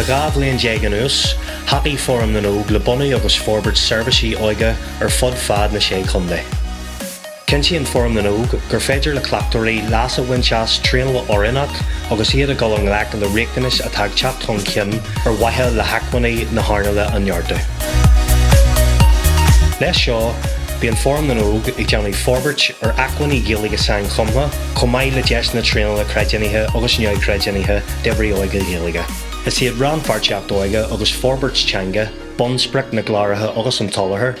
Le dhá bhliain déag anuas, thacaigh Fóram na nÓg le bunú agus forbairt seirbhísí óige ar fud fad na Sé Chontae. Cinntíonn Fóram na nÓg gur féidir le cleachtóirí leas a bhaint as traenáil oiriúnach agus iad ag dul i ngleic le riachtanais atá ag teacht chun cinn, ar mhaithe le hacmhainní na hearnála a neartú. Leis seo, bíonn Fóram na nÓg ag déanamh forbairt ar acmhainní Gaeilge sainchumtha, chomh maith le deiseanna traenála creidiúnaithe agus neamhchreidiúnaithe d'oibrithe óige Gaeilge. Is iad rannpháirtíocht óige agus forbairt teanga bunsprioc na gcláracha agus an tsoláthair.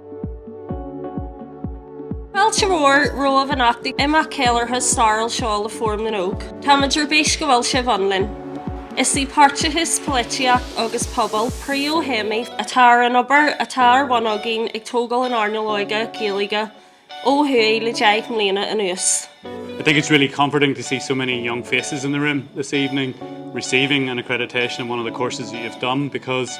Fáilte mhór romhaibh anocht ag imeacht ceiliúrtha stairiúil seo le Fóram na nÓg. Tá muid ar bís go bhfuil sibh ann linn. Is í páirteachas, polaitíocht agus pobal príomhthéamaí atá ar an obair atá ar bun againn ag tógáil an earnáil óige Gaeilge ó thuaidh le deich mbliana anuas. I think it's really comforting to see so many young faces in the room this evening receiving an accreditation in one of the courses that you've done because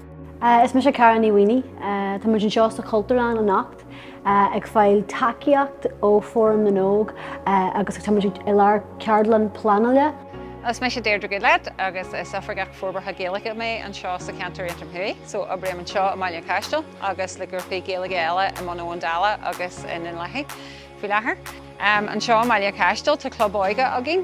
Is mise Cara Ní Mhaonaigh. Tá muid anseo sa Chultúrlann anocht ag fáil tacaíocht ó Fóram na nÓg agus tá muid i lár ceardlann pleanála. Is mise Deirdre Goodlad agus is Oifigeach Forbartha Gaeilge mé anseo sa Cheantar Aontroim Thuaidh, so oibrím anseo i mBaile an Chaistil agus le grúpaí Gaeilge eile i mBun Abhann Dalla agus i nDún Lathaí faoi láthair. Anseo i mBaile an Chaistil tá club óige againn,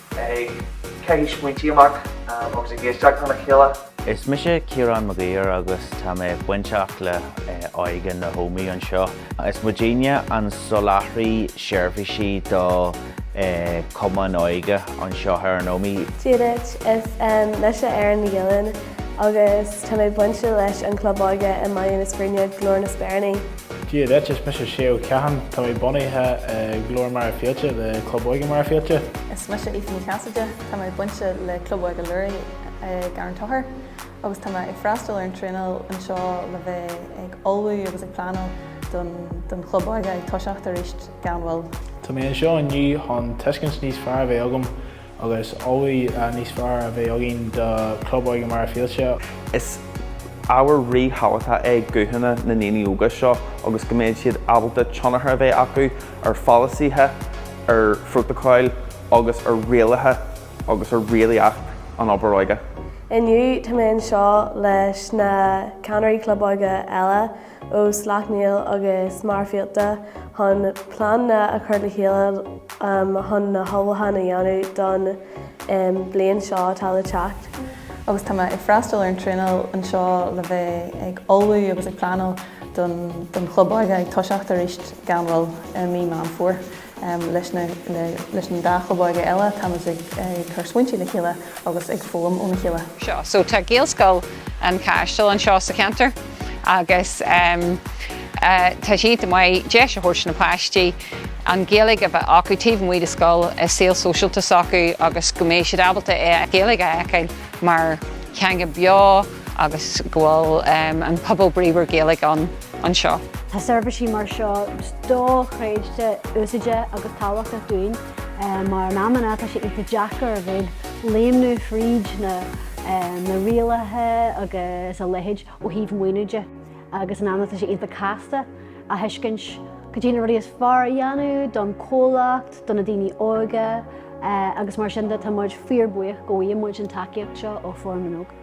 ag caitheamh smaointí amach agus ag éisteacht lena chéile. Is mise Ciarán Mag Uidhir agus tá mé bainteach le Óige na hÓmaí anseo. Is muidinne an soláthraí seirbhísí do chumainn óige anseo ar an Ómaigh. Dia duit, is mise Erin McGillen agus tá mé bainte leis an chlub óige i mBaile na Scríne, Glór na Speiríní. Dia duit, is mise Séagh Ó Catháin. Tá mé bunaithe i Glór Machaire Fíolta le Club Óige Machaire Fíolta. Is mise Aoife Ní Chasaide, tá mé bainte le Club Óige Luraigh i gCarn Tóchair agus tá mé ag freastal ar an traenáil anseo le bheith ag ullmhú agus ag pleanáil don chlub óige ag toiseacht arís gan mhoill. Tá mé anseo inniu chun tuiscint níos fearr a bheith agam Agus ullmhú níos fearr a bheith againn do Chlub Óige Machaire Fíolta. Is ábhar ríthábhachtach é guthanna na ndaoine óga seo agus go mbeidh siad ábalta tionchar a bheith acu ar pholasaithe, ar phrótacail agus ar rialacha agus ar rialaíocht an obair óige. Inniu, tá mé anseo leis na ceannairí Club Óige eile. ó Sleacht Néill agus Machaire Fíolta chun pleananna a chur le chéile chun na hullmhúcháin a dhéanamh don bliain seo atá le teacht. Agus tá mé ag freastal ar an traenáil anseo le bheith ag ullmhú agus ag pleanáil don chlub óige ag toiseacht arís gan mhoill i mí Meán Fómhair. Leis an dá chlub óige eile, táimid ag cur smaointe le chéile agus ag foghlaim óna chéile. seo. So tá Gaelscoil an Chaistil anseo sa cheantar agus tá sé iontach maith deis a thabhairt do na páistí an Ghaeilge a bheith acu taobh amuigh de scoil, i saol sóisialta s'acu agus go mbeidh siad ábalta an Ghaeilge a fheiceáil mar theanga beo. agus go bhfuil an pobal bríomhar Gaeilge ann anseo. Tá seirbhísí mar seo dochreidte úsáideach agus tábhachtach dúinn mar in amanna tá sé iontach deacair a bheith ag léimneamh fríd na rialacha agus a leithéid ó thaobh maoiniú de agus in amanna tá sé iontach casta a thuiscint cad iad na rudaí is fearr a dhéanamh don comhlacht, do na daoine óga agus mar sin de tá muid fíor buíoch go bhfaigheann muid an tacaíocht seo ó Fóram na nÓg.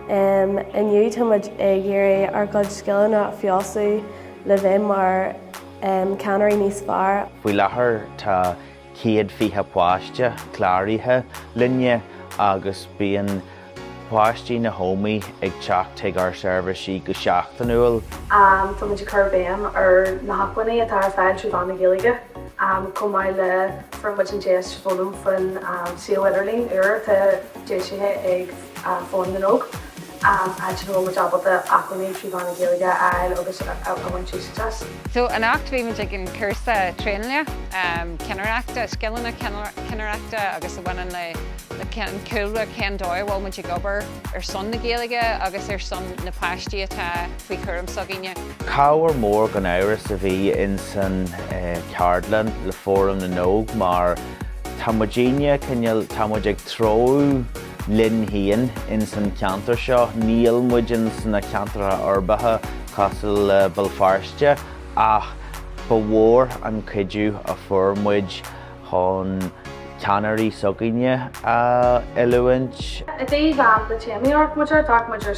Inniu táimid ag iarraidh ár gcuid scileanna a fheabhsú le bheith mar cheannairí níos fearr. Faoi láthair tá céad fiche páiste cláraithe linne agus bíonn páistí na hÓmaí ag teacht chuig ár seirbhísí go seachtainiúil. Táimid ag cur béim ar na hacmhainní atá ar fáil trí mheán na Gaeilge chomh maith le fuair muid an deis foghlaim faoin suíomh idirlín úr atá. deisithe ag Fóram na nÓg, áit ina bhfuil muid ábalta acmhainní trí mheán na Gaeilge a fháil agus a bhaint úsáid as. So anocht bhí muid ag an cúrsa traenála, cinnireachta, scileanna cinnireachta agus a bhaineann le an cúlra cén dóigh a bhfuil muid ag obair ar son na Gaeilge agus ar son na páistí atá faoi chúram s'againne. Cabhair mór gan amhras a bhí in san ceardlann le Fóram na nÓg mar Tá muidinne, cineál, tá muid ag treabhadh linn féin ins an cheantar seo. Níl muid ins na ceantracha uirbeacha cosúil le Béal Feirste ach ba mhór an cuidiú a fuair muid chun ceannairí s'againne a oiliúint. I dtaobh am do téamaí ort, muid ar, d'fhéach muid ar.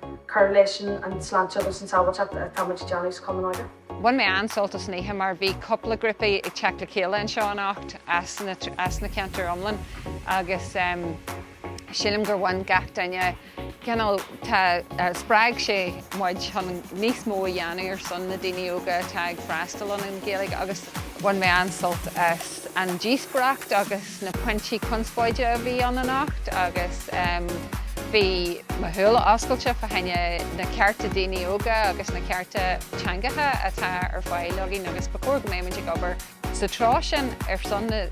cur leis an tsláinte agus an tsábháilteacht atá muid ag déanamh sa Chumann Óige. Bhain mé an-sult as an oíche mar bhí cúpla grúpaí ag teacht le chéile anseo anocht as na ceantair iomlán agus sílim gur bhain gach duine cineál, tá, spreag sé muid chun níos mó a dhéanamh ar son na daoine óga atá ag freastal ar an Ghaeilge agus bhain mé an-sult as an díospóireacht agus. na pointí conspóide a bhí ann anocht agus bhí mo shúile oscailte fá choinne na cearta daoine óga agus na cearta teangacha atá ar fáil againn agus ba chóir go mbeadh muid ag obair sa treo sin ar son na,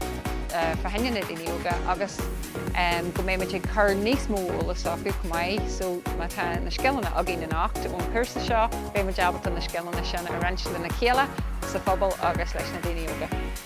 fá choinne na daoine óga agus go mbeadh muid ag cur níos mó eolas acu chomh maith so má tá na scileanna againn anocht ón chúrsa seo beidh muid ábalta na scileanna sin a roinnt lena chéile, sa phobal agus leis na daoine óga.